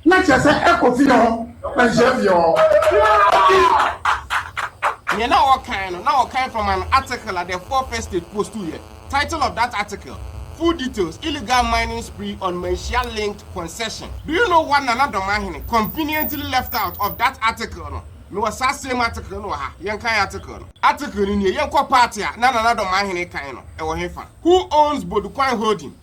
Na kyerɛ sɛ ɛkɔ fie hɔ na nhyɛ fie hɔ. Nea na wɔkan no, na wɔkan from an article at the four first state post yɛ, title of that article, Full details, Illegal mining spree on Manhyia linked concession. Do you know what Nana Domahene conveniently left out of that article no? Mewɔ saa same article no wɔ ha, yɛnkan article no. Article no nie, Yɛnkɔ part a na Nana Domahene kan no, ɛwɔ hefa? Who owns Bodukwan Holding?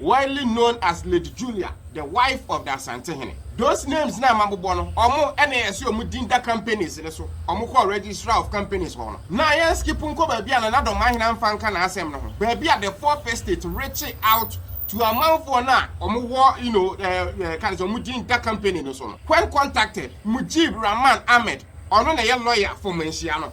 Widely known as Lady Julia, the wife of the Asantehene. Those names no a mabobɔ no, ɔmo na ɛhyɛ ɔmo din da companies no so. Ɔmo kɔɔ Registrar of Companies hɔ no, na yɛn skip nkɔ baabi a Nana Domahene amfa anka n'asɛm no ho, baabi a the Fourth Estate rekye out to amanfoɔ no a ɔmo wɔ you know eh, ka ne sɛ ɔmo din da company no so no. When contacted, Mujib Rahman Ahmed, ɔno na ɛyɛ lawyer for Manhyia no,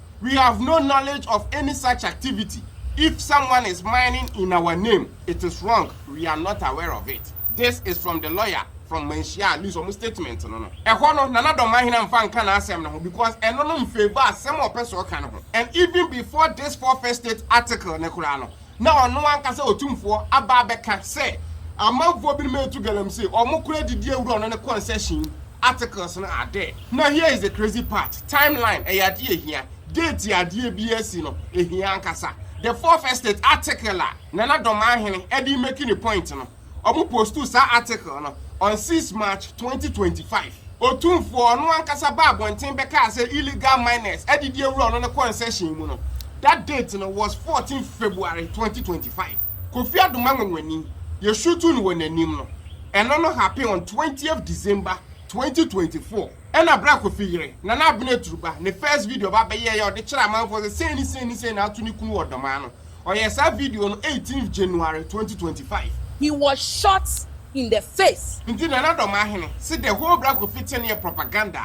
We have no knowledge of any such activity, if someone is mining in our name, it is wrong, we are not aware of it. This is from the lawyer from Manhyia, at least wɔn statement no no. Ɛhɔ no, Nana Dɔmahina mfa nka n'asɛm no ho because ɛno no mfavour asɛm a ɔpɛ sɛ ɔka no ho. And even before this four first state article no koraa no, na ɔno ankasa Otumfoɔ aba abɛka sɛ amanfoɔ binom retu galamsey, wɔn kora adidie awura ɔno ne concession articles no are there. Na here is the crazy part, time line ɛyɛ adeɛ a ɛhia, date a adeɛ biara si no ɛhia ankasa, the fourth estate article a Nana Domaahene ɛde remake ne point no, Ɔmo postuu saa article no on six March twenty twenty five. Otumfoɔ, ɔno ankasa baa abɔnten bɛkaa sɛ illegal miners adidi awura ɔno ne concession mu no. That date no was fourteen February twenty twenty five. Kofi Adomanwanwani, yɛ shutuu no wɔ n'anim no, ɛno no happen on twentieth December twenty twenty four. Ɛna berɛ a Kofi yere, Nana Abena Aturuba, ne first video ba bɛyɛeɛ a ɔde kyerɛɛ amanfoɔ sɛ sei ne sei ne sei na ato ne kunu wɔ Ɔdɔmaa no, Ɔyɛ saa video no eighteenth January twenty twenty five. He was shot in the face. Nti Nana Domahene se the whole Bra Kofi thing no yɛ propaganda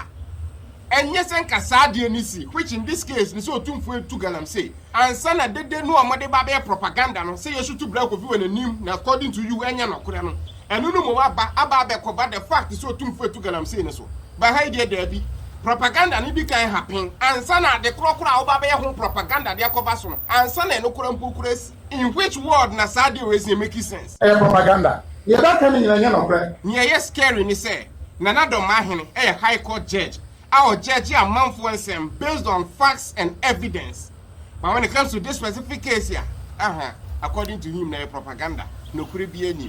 a, ɛnyɛ sɛ nka saa adeɛ no si, which in this case no sɛ Otumfoɔ retu Galamsey, ansa na dede no a wɔde ba abɛyɛ propaganda no sɛ yɛsutu Bra Kofi wɔ n'anim na according to you ɛnyɛ nɔkorɛ no, Ɛno no mmom aba aba abɛkɔba the fact sɛ Otumfo atu galamsey no so. But ha yi deɛ daabi. Propaganda no di kan ha pen ansa na ade korɔ korɔ a woba abɛyɛ ho propaganda de akɔba so no, ansa na ɛno korɔ mpo kura asi. In which world na saa deal wei sɛ make sense? Ɛyɛ propaganda. Nea ɛbɛka no nyinaa nyɛ nɔkorɛ. Nea ɛyɛ scary ne sɛ Nana Domahene yɛ High Court Judge a ɔjudge amanfoɔ nsɛm based on facts and evidence. But when it comes to this specific case a, ahaa, according to him no ɛyɛ propaganda. Nokorɛ biara nnim.